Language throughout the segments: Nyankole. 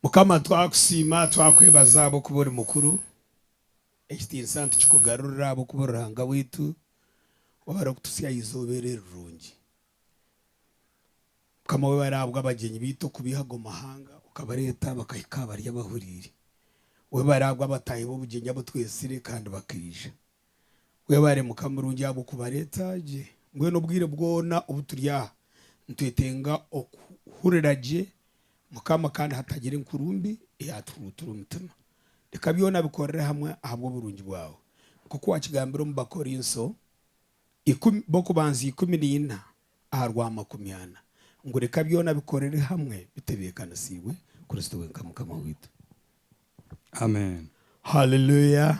Mukama twakusiima twakwebaza ahabw'okuba ori mukuru, ekitiinisa nitukikugarurira ahabw'okuba ori Ruhanga waitu ou arikututsya aha izooba eri erirungi. Mukama webare ahabw'abagyenyi baitu okubiiha ago mahanga okabareeta bakahika aha bari abahuriire. Webare ahabw'abataahi b'obugyenyi abu twetsire kandi bakaija. Webare Mukama murungi ahabw'okubareeta gye. Mbwenu obwire bwona obu turi aha, nitwetenga okuhurira gye, Mukama, kandi hatagira enkuru mbi eyatuhuruutura omutima. Reka byona bikorere hamwe ahabw'oburungi bwawe. Nk'oku wakigambire omu Bakorinso ikumi b'okubanza ikumi na ina, Aha rwa makumi ana, ngu reka byona bikorere hamwe bitebekanisiibwe Kristo wenka Mukama waitu. Amen. Haleluya!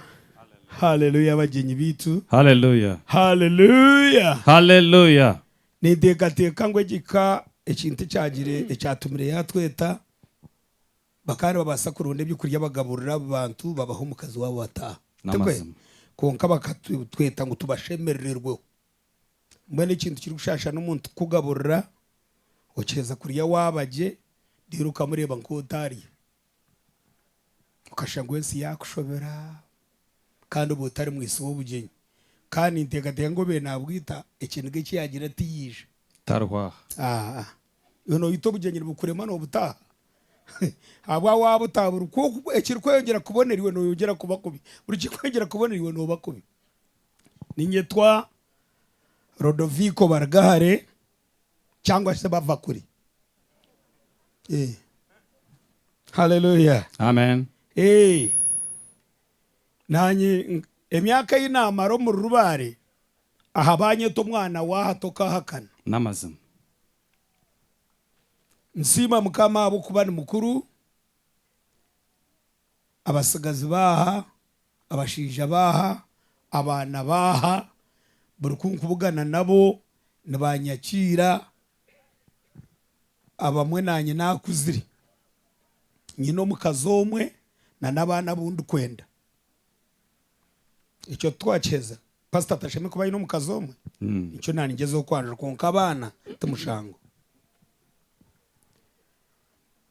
Haleluya bagyenyi baitu! Haleluya! Haleluya! Haleluya! Ninteekateeka ngu egi ka ekintu ekyagire ekyatumire yaatweta, bakaba nibabaasa kuronda eby'okurya bagaburira abo bantu babahe omukazi waabo bataaha. Tikwe? N'amazima. Kwonka bakatweta ngu tubashemerererweho. Mbwenu ekintu kirikushaashana omuntu kukugaburira okiheza kurya waaba gye reero okamureeba nk'otaarya. Okashanga ensi yaakushobera kandi oba otari mwitsi w'obugyenyi. Kandi ninteekateeka ngu obaire naabwita ekiniga eki yaagira ati yaija. Tariho aha. Aa, iwe nooyita obugyenyi nibukurema noobutaaha? Ahabw'aha waaba otaaburi, ku ekirikweyongyera kubonera iwe nooyongyera kuba kubi. Buri kirikweyongyera kubonera iwe nooba kubi. Ninyetwa Rodovico Barugahare cyangwa se Bavakuri. Eh. Hallelujah. Amen. Eh. Nanye nk- emyaka eyi namara omu Rurubare aha banyeta omwana waha tokahakana. N'amazima. Nsiima Mukama ahabw'okuba ni mukuru. abatsigazi baaha, abashaija baaha, abaana baaha, buri ku nkubugana nabo nibanyakiira, abamwe naanye naakuzire. Nyine omukazi omwe na n'abaana abu ndikwenda. Ekyo titwakiheza? Pasita atashemereire kuba aine omukazi omwe? Nikyo naaningyezaho kwanjura kwonka abaana ti mushango.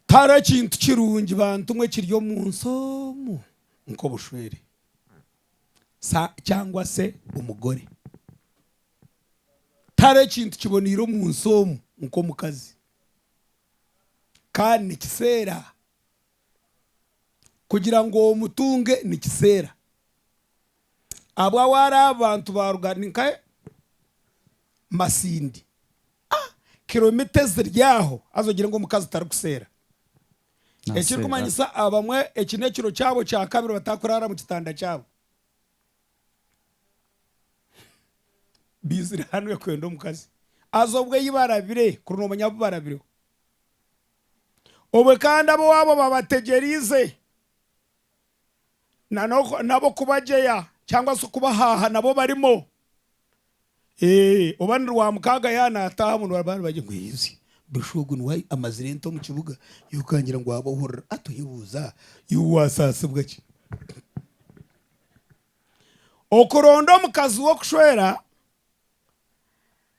Tihariho ekintu kirungi bantu mwe ekiri omu nsi omu nk'obushwere, sa cyangwa se omugore. Tihariho ekintu kiboneire omu nsi omu nk'omukazi. Kandi nikiseera kugira ngu omutunge nikiseera. Abwa we ari aha bantu ba Rugari nka Masindi. A Kilomita eziri aho haza ogire ngu omukazi tarikuseera. Ekirikumanyisa abamwe eki n'ekiro kyabo kya kabiri batarikuraara mu kitanda kyabo. Baizire hanu barikwenda omukazi. Haza obu ei barabire kuri noomanya abu barabireho. Obwe kandi ab'owaabo babategyereize. nabo kubagyeya cyangwa se okubahaha nabo barimo oba ni rwamukaaga ya nataaha bamwe nibaba nibagyeya ngu ensi busha ogu niwe amazire ente omu kibuga iwe okangira ngu wabohorora a toyebuuza iwe wasaasibwa ki? Okuronda omukazi w'okushwera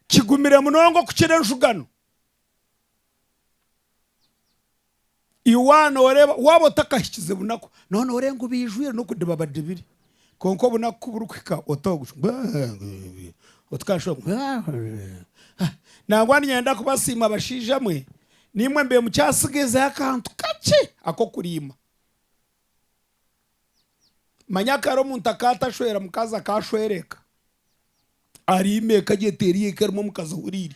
kigumire munonga okukira enshugano. Waaba otakahikize bunaku, nooba nooreeba ngu baijwire n'okudiba badibire kwonka obunaku ku burikuhika nangwa niinyenda kubasiima bashaija mwe naimwe mbwenu mukyatsigaisize akantu kakye ak'okuriima. Manya kare omuntu akaba atashwera mukazi akashwerwa eka, ariima eka gye teriho eka erimu omukazi ohuriire.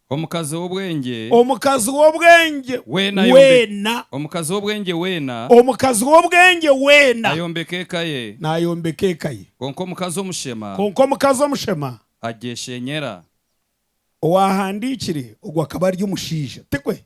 Omukazi w'obwengye. Omukazi w'obwengye weena. Omukazi w'obwengye weena. Omukazi w'obwengye weena. Ayombeka eka ye. Naayombeka eka ye. Kwonka omukazi omushema. Kwonka omukazi omushema. Agyeshenyera. Owaahandiikire ogwo akaba ari omushaija, tikwe?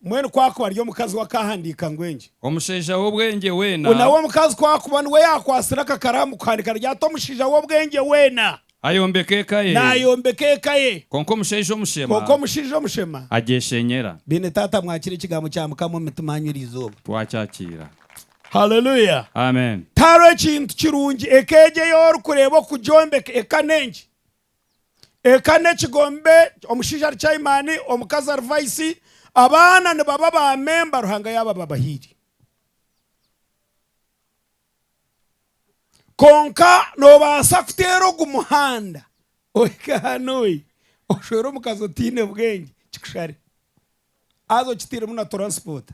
Mbwenu ku akuba ari omukazi we akaahandiika ngu engi? Omushaija w'obwengye weena. Nawe omukazi ku akuba niwe yaakwatsire aka karaamu kuhandiika riri ati, Omushaija w'obwengye weena. Ayombeka eka ye. Naayombeka eka ye. Kwonka omushaija omushema. Kwonka omushaija omushema. Agyeshenyera. Beene taata mwakire ekigambo kya Mukama omu mitima yanyu eri izooba. Twakyakiira. Haleluya. Amen. Tihariho ekintu kirungi eka egyo ei orikureeba okugyombeka. Eka n'enki? Eka n'ekigombe omushaija ari chayimaani, omukazi ari vaisi, abaana nibaba baamemba, Ruhanga yaaba ababahaire. Kwonka noobaasa kuteera ogu muhanda ohike hanu oshwere omukazi otaine bwengye kikushare haza okitairemu na turansipoota.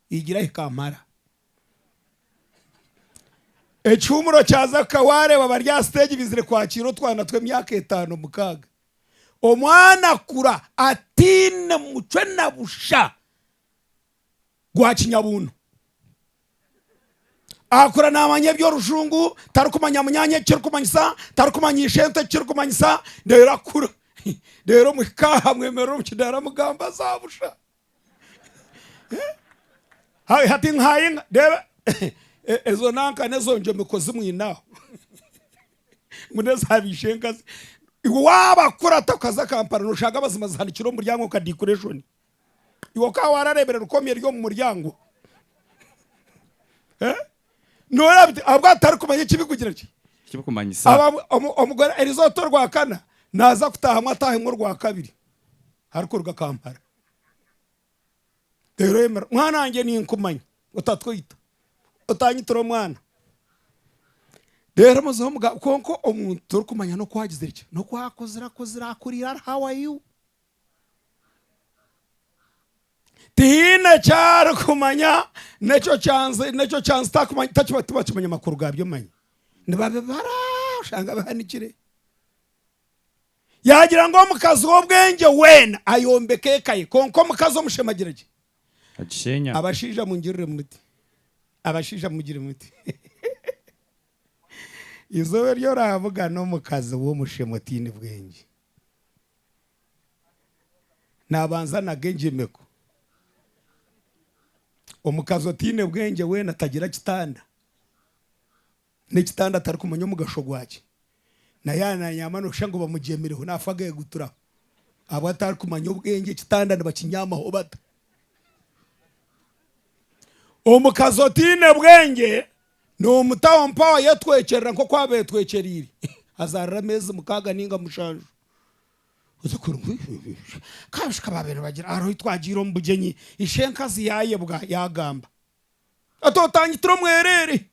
Igira hika mara. Ekihuumuro kya Zaka waareeba bari aha siteegi baizire kwakiira otwana tw'emyaka etaano mukaaga. Omwana akura ataine mucwe na busha gwa kinyabuuno. Akura naamanya eby'orujungu, tarikumanya munyaanya eki kirikumanyisa, tarikumanya ishente eki kirikumanyisa reero akura. Reero muhika aha mwemerera omu kidaara mugamba za busha. hati nkayinga reeba ezo nanka nezo njomeko zimwinaho ngu neza bishenkazi iwe wabakurata okaza Kampala noshanga amazima zihanikire omu muryango nka decoration iwe okaba wararebire rukomyo eri omu muryango. Nooreeba biti ahabw'okuba titarikumanya eki birikugira ki? Eki birikumanyisa. Omugore erizooba ti orwakana, naaza kutaahamu ataahemu orwakabiri arikuruga Kampala. Reero oyemerera, mwana wangye ninkumanya, otatweita, otaanyitira omwana. Reero muzehe omuga kwonka omuntu torikumanya n'oku agizire ki, n'oku akozire akozire akurire ari how are you? tihaine eki arikumanya n'ekyo kyanzi n'ekyo kyanzi takumanya takiba tibakimanya amakuru gaabyo manya nibabibara oshanga bihanikire yaagira ngu omukazi w'obwengye weena ayombeka eka ye kwonka omukazi omushema agira gye agisheenya abashaija mungirire muti abashaija mugire muti eizooba eri oraavuga n'omukazi w'omushema otaine bwengye nabanza naga engyemeko, omukazi otaine bwengye weena tagira kitanda, nekitanda atarikumanya omugasho gwakye, na yaaba nanyaama noshusha ngu bamugyemireho nafa ageguturaho ahabw'okuba atarikumanya obwengye ekitanda nibakinyaamaho bata, omukazi otaine bwengye. N'omu tawa mpaho ayetwekyerera nk'oku aba ayetwekyereire, azaarira ameezi mukaaga nainga mushanju. Oze kuri ngu, Ka abashika baabaire nibagira, hariho obu twagiire omu bugyenyi, ishe enkazi yaayebwa, yaagamba ati, Otangitire omwereere!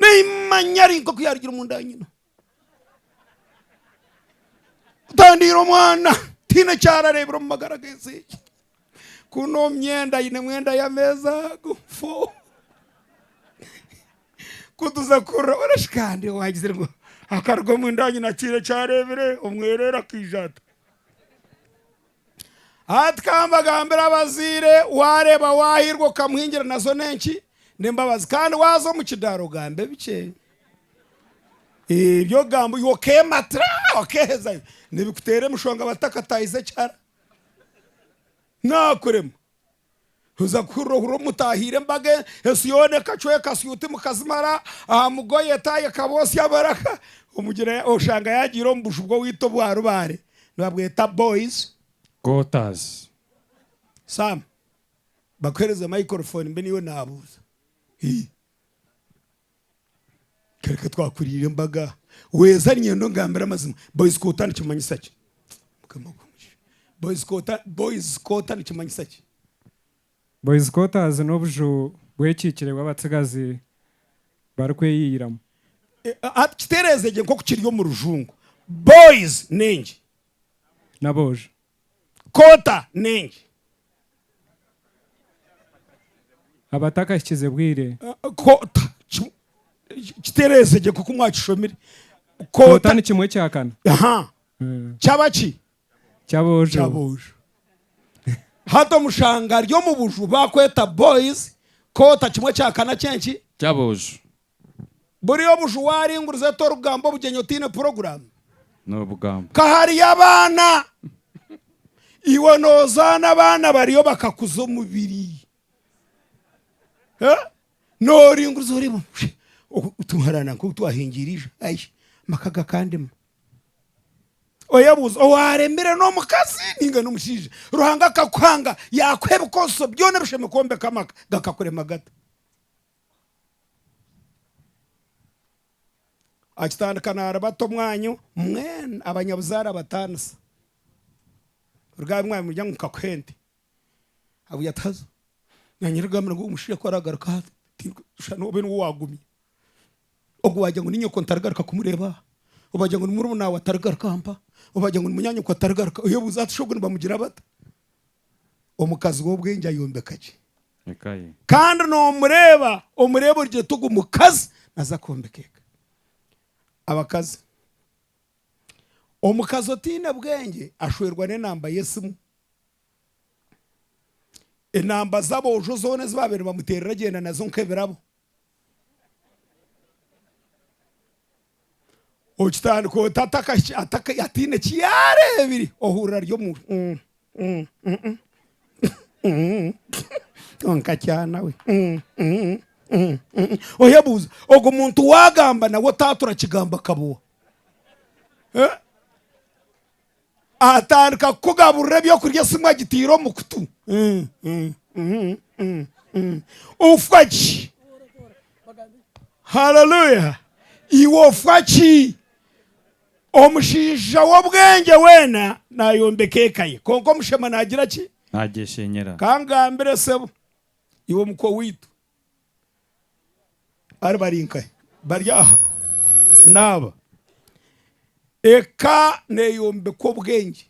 Naimanya ari nk'oku yaarugire omu nda ya nyina. Ntandiira omwana tihaine eki arareebire omu magara g'ensi egi. Ku n'omu myenda ainemu enda y'ameezi ago fo. Ku tuza kukurora bona shi kandi owagizire ngu akaruga omunda ya nyina tihaine eki areebire omwereere akaija ata. Hati kambagambire abazaire waareeba waahirwa okamuhingira nazo n'enki? N'embabazi kandi waaza omu kidaara ogambe bikye ebi okugamba iwe okeematira okeehezayo nibikuteera emishwa ngu abatakataahize ekihara naakurema. Oza kuhurira ohuri omu mutahiire embaga ensi yoona ekacweka suuti mukazimara aha mugoye etaahi ekabootsya amaraka omugira oshanga yaagiire omu buju bw'owaitwa obwa rubaare nibabweta boys quarters. Sam bakuhereze microphone mbe niiwe naabuuza. Kereka twakuriire embaga weza ninyenda ongambire amazima boys quota nikimanyisa ki mukama gwe omugisha boys quota boys quota nikimanyisa ki. Boys quarters n'obuju bw'ekiikire bw'abatsigazi barikweyiyiramu. Hati kitereeze gye nk'oku kiri omu rujungu boys n'engi. N'aboojo. Kota nengi. Abatakahikize bwire. Kota, kimwe, kitereeze gye nk'oku mwakishomire. Kota Kota, ni kimwe kya kana. aha, Mm. kyaba ki? Ky'aboojo. Ky'aboojo. Hati omushanga ari omu buju baakweta boys, kota kimwe kya kana ky'enki? Ky'aboojo. Buri obuju waaringuriza ota orugamba obugyenyi otaine puroguraamu? Ka hariyo abaana, iwe noozaana abaana bariyo bakakuza omubiri. Nooringuriza oreeba otuharaana nk'otu twahingiire eija, ai amaka gakandema. Oyebuuze, owaaremire n'omukazi nainga n'omushaija? Ruhanga akakuhanga yaakuha ebikoresa byona ebishemeire kwombeka amaka, gakakurema gata? Akitandika naaribata omwanyo mbwenu abanyabuzaare abataanisa. Ruga aha bimwaaro nimurya ngu nkakuha ente. Abwire ati haza naanye nagambira ngu omushaija ku araagaruka aha tinkashusha nooba niwe owaagumire. Ogwo waagira ngu ni nyoko ntarigaruka kumureeba aha, oba waagira ngu ni murumuna waawe atarigaruka aha mpaha, oba waagira ngu ni munyaanyoko atarigaruka. Oyebuuze ati shi ogu nibamugira bata? Omukazi w'obwengye ayombeka gye. eka ye. Kandi nomureeba omureeba ori gye tugu mukazi naza kwombeka eka abakazi omukazi otaine bwengye ashwerwa n'enamba y'esimu enamba z'aboojo zoona ezi babaire bamuteerera agyenda nazo nk'ebirabo. Okitandika ota ataine eki yaareebire? Ohurira ari omu kwonka kyana we. Oyebuuza ogwo muntu waagamba nawe otaatura kigambo akaba owa? Atandika kukugaburira ebyokurya esimu agitaire omu kutu. Ofwa ki? Haleluya! Iwe ofwa ki? Omushaija w'obwengye weena naayombeka eka ye, kwonka omushema naagira ki? Naagyeshenyera. Ka ngambire sebo, iwe mukwe owaitu. Bari bari nkahi? Bari aha naaba. Eka neyombekwa obwengye.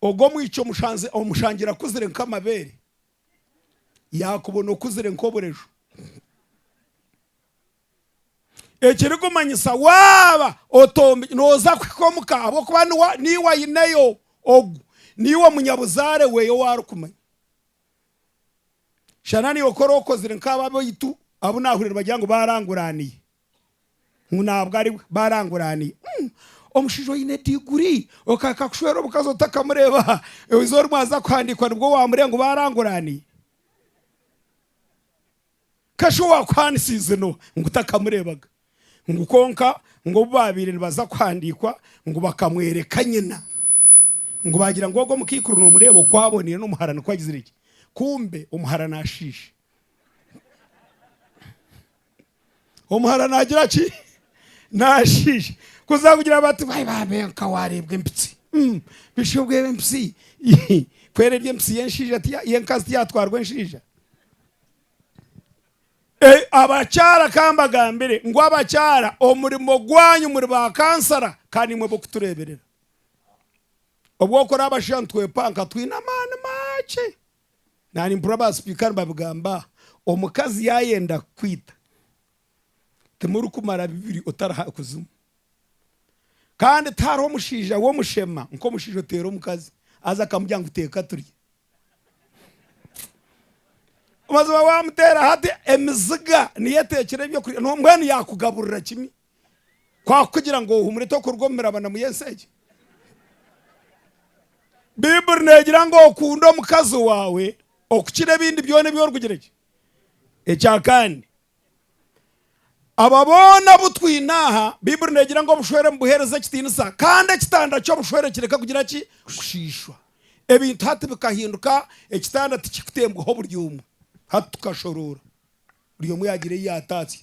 Ogu omwishiki omushangira akuzire nk'amabeere, yakubona okuzire nk'obureju. Ekiri kumanyisa waaba otombekire, noza kuhika omu ka ahabw'okuba niiwe aineyo ogu, niiwe munyabuzaare we owu ari kumanya. Shana naiwe kora okozire nk'abo abaitu abu naahuriire nibagira ngu baaranguraaniye. Ngu nabwo ari bwe, baaranguraaniye. Umm! Omushaija oine diguri okahika kushwera omukazi otakamureeba aha, eizoba rimwe aza kuhandiikwa nibwo waamureeba ngu baaranguraaniye? Kashi owaakuhaanisiize n'oha ngu takamureebaga? Ngu kwonka ngu obu baabaire nibaza kuhandiikwa ngu bakamworeka nyina, ngu baagira ngu ogwo mukaikuru noomureeba oku aboneire n'omuhara nikwo agizire gye. Kumbe omuhara naashiisha. Omuhara naagira ki? Naashiisha. Kuza kugira bati bwai baabe nka waareebwa empitsi. Bishi obwo empitsi? Ku eri eri empitsi y'enshaija, y'enkazi tiyaatwarwa enshaija? Ei, abakyara kambagambire ngu abakyara omurimo gwanyu muri ba kansara kandi nimwe b'okutureeberera. Obu orikukora abashaija nitwepanka twine amaani makye. Naanye mpurira ba sipiika nibabigamba aha, omukazi yaayenda kukwita timurikumara bibiri otari ha kuzimu. Kandi tihariho mushaija w'omushema nk'omushaija oteera omukazi aza akamugira ngu teeka turye. obaziba wamuteera hati emiziga niyo eteekire ebyokurya mbwenu yaakugaburira kimwe kwakugira ngu ohumure tokuruga omu mirabano omu y'ensi egi baibuli neegira ngu okunde omukazi waawe okukira ebindi byona ebi orikugira ki ekyakandi Aba boona abu twine aha, Baiburi neegira ngu obushwere nibuheereza ekitiinisa kandi ekitanda ky'obushwere kireka kugira ki? Kushiishwa. Ebintu hati bikahinduka, ekitanda tikikutembwaho buri omwe. Hati tukashoroora, buri omwe yaagira ei yaatatsya.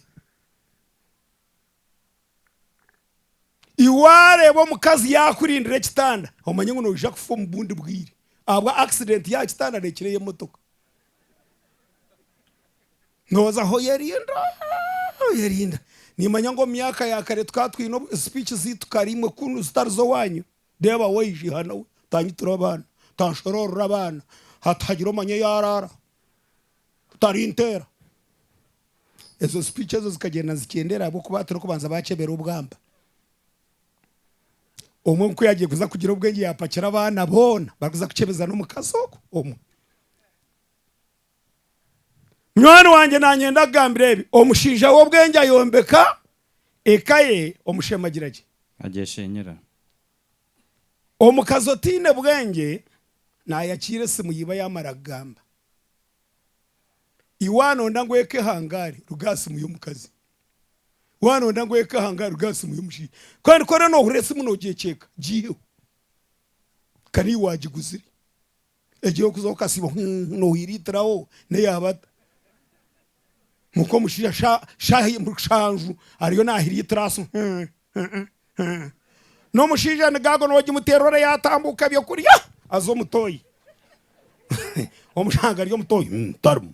Waareeba omukazi yaakurindira ekitanda omanye ngu noija kufa omu bundi bwire ahabwa akisidenti y'aha kitanda neekira ey'emotoka. Nooza aha oyerinda, oyerinda. Niimanya ngu omu myaka ya kare tukaba twine sipiiki zaitu kare imwe ku zitari z'owaanyu, reeba waija, otaanyitura abaana, otaanshoroorora abaana, hati haagira omanya owu araara. Tarinteera. Ezo speech ezo zikagyenda nizikyendera ahabw'okuba hati orikubanza baakyebera obwamba. Omwe nk'oku yaagiye kuza kugira obwengye yaapakira abaana boona barikuza kukyebeza n'omukazi ogwo omwe. Munywani wangye naanyenda kugambira ebi, omushaija w'obwengye ayombeka eka ye omushemagira gye. Agyesheenyera. Omukazi otaine bwengye nayakiira esimu yiba yamara kugamba iwe anonda ngu ekehangare ruga aha simu yomukazi we anonda ngu ekehangare ruga aha simu yomushaija kandi kworaba nohurira esimu nogyekyeka gyiheho kare iwe wagiguzire. Egi y'okuza okasiiba huuhu nohwiriitiraho n'eyaabata? Muka omushaija sha shaaha mushanju ariyo nahiriitira aasi hee hee hee. N'omushaija ni gaago nogimuteera ora yaatambuuka eby'okurya aza omutoyi omushango ari omutoyi hee tarimu.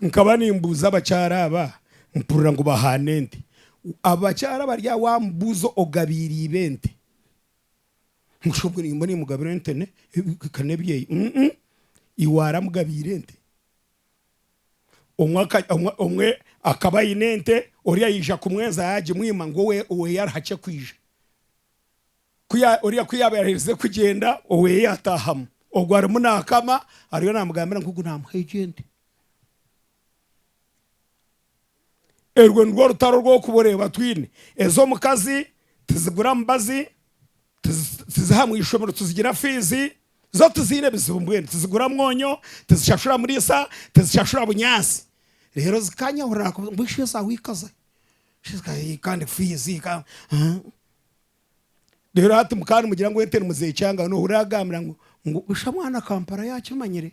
Nkaba nimbuuza abakyara aba mpurira ngu bahaana ente. Abakyara bari aho wamubuuza ogabiire iba ente? Ngu shi obwe nimba nimugabira ente ne ka n'ebyeyi? Uum iwe ara amugabiire ente. Omwe aka omwe omwe akaba aine ente ori ayija kumweza yagimwima ngu owe owe yari hakye kwija. Ku ya, oriya ku yaaba yaherize kugyenda, oweeye yaataahamu. Ogwo arimu naakama, ariyo naamugambira ngu ogu naamuha egyo ente. Erwo nirwo orutaro orw'okuba oreeba twine. Ez'omukazi tizigura mubazi, tizi, tiziha mu ishomero, tizigira fiizi, zo tiziine bizibu mbwenu. Tizigura mwonyo, tizishashura muriisa, tizishashura bunyaasi. Reero zikanyahurira ngu, Ishwe ezi ahu ikaza? Kandi fiizi, ka, haa. Reero hati muka nimugira ngu ente nimuzeecanga, noohurira agambira ngu ngu busha mwana Kampala yaakimanyire.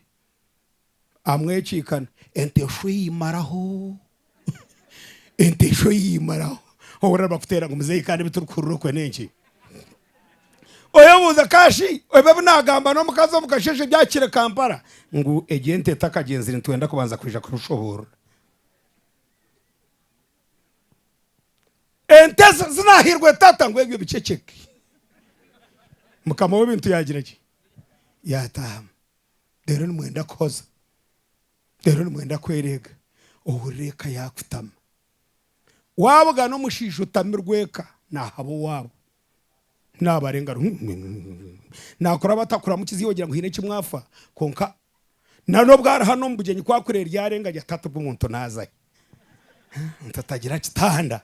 Amwekiikana. Ente eshwa eimaraho. Ente eshwa eimaraho. Ohurira nibakuteera ngu muzeeyi kandi ebi turikuhurira okwe n'enki? Oyebuuza ka shi ebi ebi naagamba n'omukazi omu kasheeshe ebi ahikire Kampala ngu egyo ente etakagyenzire nitwenda kubanza kwija kukushoboorora. Ente ze zinahairwe tata ngu ebyo biceceke. Mukama w'ebintu yagira ki? Yatahamu. Reero nimwenda kuhoza, reero nimwenda kwereega. Ohurira eka yakutama. Wabugana omushaija otamirwe eka nahaba owaabo. Naabarenga ru, naakora aba atakuramukize iwe ogira ngu haine eki mwafa. Kwonka nari obu ari hanu omu bugyenyi ku akureba eryarenga agira ati hati ogu omuntu naaza ahi? Omuntu atagira kitanda,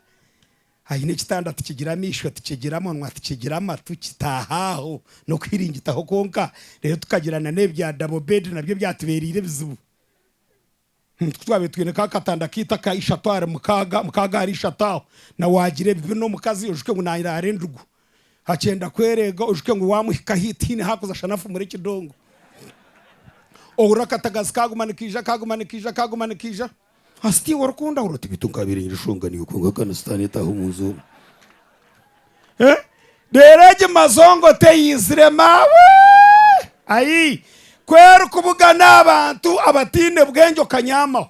aine ekitanda tikigira amaisho, tikigira munwa, tikigira amatu, kitaaha aho n'okuhiringitaho kwonka. Reero tukagira n'ebi bya double bed nabyo byatubeereire ebizibu. Nitwe twabaire twine ka katanda kaitu aka ishatu ahari mukaaga, mukaaga ahari ishatu aho, na waagira ebibi n'omukazi ojuke ngu nairaara endugu. Akyenda kwereega ojuke ngu waamuhika haihi tihaine haakuza shana afumure ekidongo. Ohurira akatagazi kaaguma nikaija, kaaguma nikaija, kaaguma nikaija. Hati tiwe orikundahura oti beitu nkaabaire nyine enshonga niyo kwonka kandi sitaane etaaha omu nju omu. Eh, reero egi mazongo teyaizire maawe! Ayii, ku erikubugana aha bantu abataine bwengye okanyaamaho!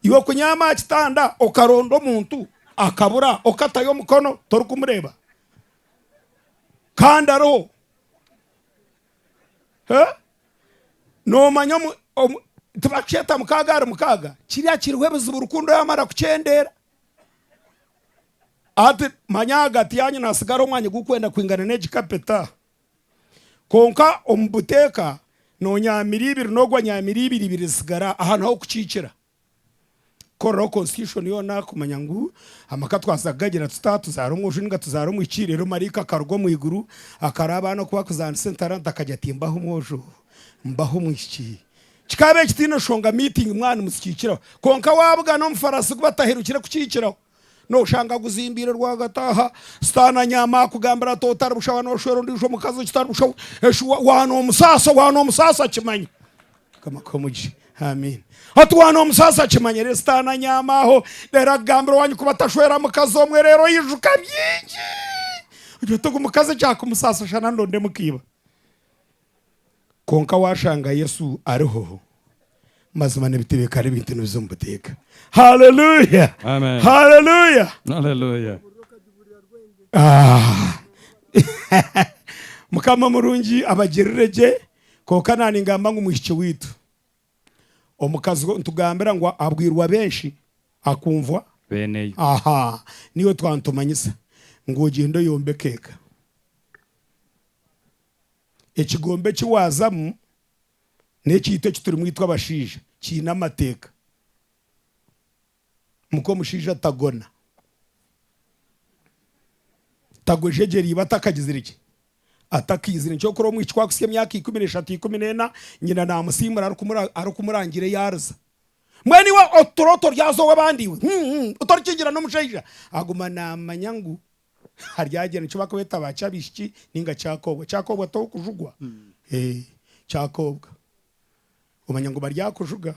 Iwe kunyaama aha kitanda okaronda omuntu akabura okatayo omukono torikumureeba? Kandi ariho! Eh, noomanya omu, omu, tibarikukyeta mukaaga ahari mukaaga? Kiriya kiriho ebizibu rukundo yaamara kukyendeera. Ati, Manya ahagati yaanyu naasigara omwanya gurikwenda kwingana n'egi kapeta. Kwonka omu buteeka noonyaamira ibiri n'ogu anyaamira ibiri, ibiri zisigara. Aha niho kukiikira. Kukoreraho Constitution yoona kumanya ngu amaka twaza kugagira tuta, tuzaara omwojo nainga tuzaara omwishiki, reero maraika akaruga omu iguru akaraba abaana oku barikuzaanisa entaranta akagira ati, Mbahe omwojo, mbahe omwishiki. Kikaba ekitiine oshonga meeting mwaba nimuzikiikiraho kwonka waabugana omufarasi gu batahirukire kukiikiraho nooshanga aguzimbiire rwagati aha sitaani anyaama akugambire ati otari bushaho nooshwera ondiijo omukazi ekitari bushaho eshi wa noomusaasa wa noomusaasa akimanya Mukama akuhe omugisha Amen ati wa noomusaasa akimanya reero sitaani anyaama aho reero akugambire owanyu kuba tashwera mukazi omwe reero oyijuka bingi ogira oti ogu mukazi ekyakumusaasa shana ndondemu ka iba. Kwonka washanga Yesu ariho, mazima nebiteebeka ari ebintu nibiza omu buteeka. Haleluya! Amen. Haleluya! Hallelujah. Ah. Mukama murungi abagirire gye, kwonka naningamba ngu mwishiki waitu, omukazi we nitugambira ngu abwirwe abenshi akumvwa, Beneyo. aha niwe twaba nitumanyisa ngu ogyende oyombeke eka. Ekigombe eki waazamu n'ekiito eki turimu itwe abashaija kiine amateeka. Muka omushaija tagona. Tagwa ejegyera iba atakagizire ki? Atakaizire. Nikyo orikureeba omwishiki ku arikuhitsya emyaka ikumi n'eshatu ikumi n'ena, nyina naamusiimura arikumurangira yaariza. Mbwenu iwe otutura otoryaza ow'abandi iwe? Hum hum, otorikigira n'omushaija? Aguma naamanya ngu. Haryagyenda eki barikweeta ba Kyabishiki ninga Kyakoobwa. Kyakoobwa t'ow'okujugwa? Ee, Kyakoobwa. Omanya ngu baryakujuga,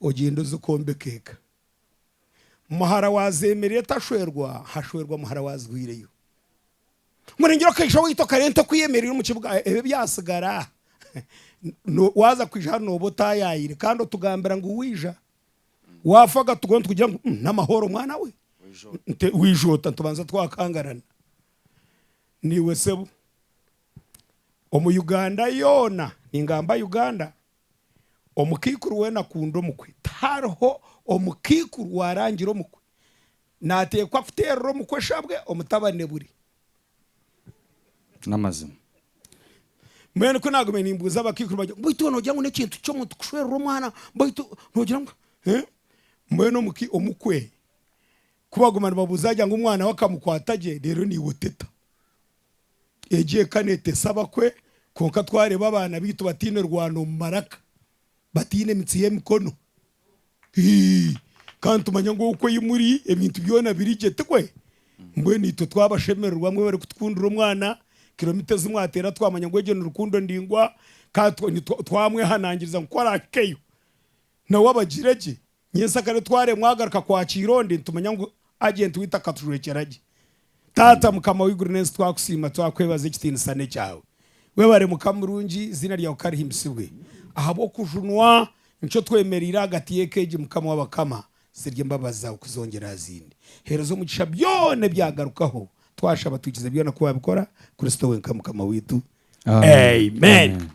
ogyende oze kwombeka eka. Muhara waazeemerera etashwerwa, hashwerwa muhara waazihweireyo. Murengire okaija waitu okare ente ku eyemereire omu kibuga, ebyo byatsigara, waaza kwija hanu nooba otaayaayire kandi otugambira ngu waija. Waafa akatugaho nitugira ngu n'amahoro mwana we nte waija ota nitubanza twakangarana. Naiwe sebo omu Uganda yoona, ningamba Uganda, omukaikuru weena akunda omukwe. Tihariho omukaikuru waarangira omukwe, naateekwa kuteerera omukwe eshabwe omutabani buri. N'amazima. Mbwenu ku naagume nimbuuza abakaikuru bangye ngu, Baitu iwe noogira ngu n'ekintu ky'omuntu kushwerura omwana? Baitu noogira ngu eeh? Mbwenu omuki, omukwe ku baguma nibabuuza yaagira ngu omwana we akamukwata gye, reero naiwe oteta. Egi eka neetesa abakwe, kwonka twareeba abaana baitu bataine rwano omu maraka, bataine emitsi y'emikono. Ii, Ka nitumanya ngu oku ei muri ebintu byona biri gye, tikwe? Mbwenu itwe twabashemererwa mwe barikutukundira omwana, kiromita ezi mwateera twamanya ngu egyo ni rukundo ndaingwa, ka twa nitwa twamwehanangiriza ngu ku arahikeyo na we abagire gye. Nyentsakare twaremwa agaruka kwa Kaironde nitumanya ngu ajenti waitu akatujwekyera gye. Taata mukama w'eiguru n'ensi twakusiima twakwebaza ekitiinisa n'ekyawe. Webare mukama murungi eiziina ryawe karihimbisibwe ahabw'okujunwa nikyo twemereire ahagati y'eka egi mukama w'abakama zirye embabazi zaawe kuzongyera aha zindi. Heereza omugisha byoona ebyagarukaho twashaba twikize byoona ku wabikora Kristo wenka mukama waitu Amen.